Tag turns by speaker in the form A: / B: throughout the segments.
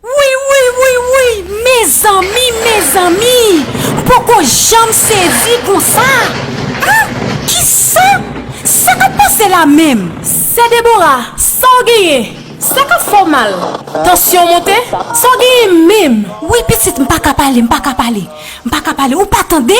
A: Wouy wouy wouy wouy mezanmi mezanmi m poko janm sezi konsa ah kisa sa kap pase la menm. Sè Debora
B: sa w genyen sa kap fè w mal tansyon w monte sa w genyen menm. Wi pitit m paka
A: pale m paka pale m paka pale ou pa tande.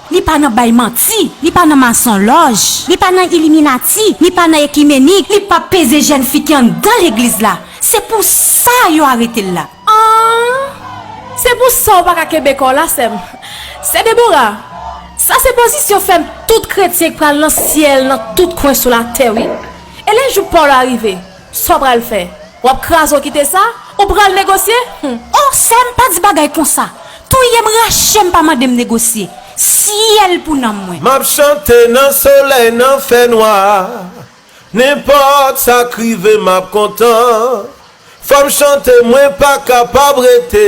A: Li pa nan bay manti, li pa nan masonlòj, li pa nan iliminati, li pa nan ekimenik, li pap peze jèn fi ki anndan legliz la, se pou sa yo arete l la. Aah!
B: Se pou sa w pa ka kenbe kò w la, sè m. Sè Debora, sa se pozisyon fèm tout kretyen k pral nan syèl nan tout kwen sou latè wi. E lè jou pa w la rive. Sa w pral fè? W ap kraze w kite sa? Ou pral negosye? Hum! O! Sè m,
A: pa di bagay konsa! Touye m, rache m, pa mande m negosye! Syèl pou nanm mwen! M ap chante nan
C: solèy, nan fènwa, nenpòt sa k rive m ap kontan. Fò m chante, mwen pa kapab rete,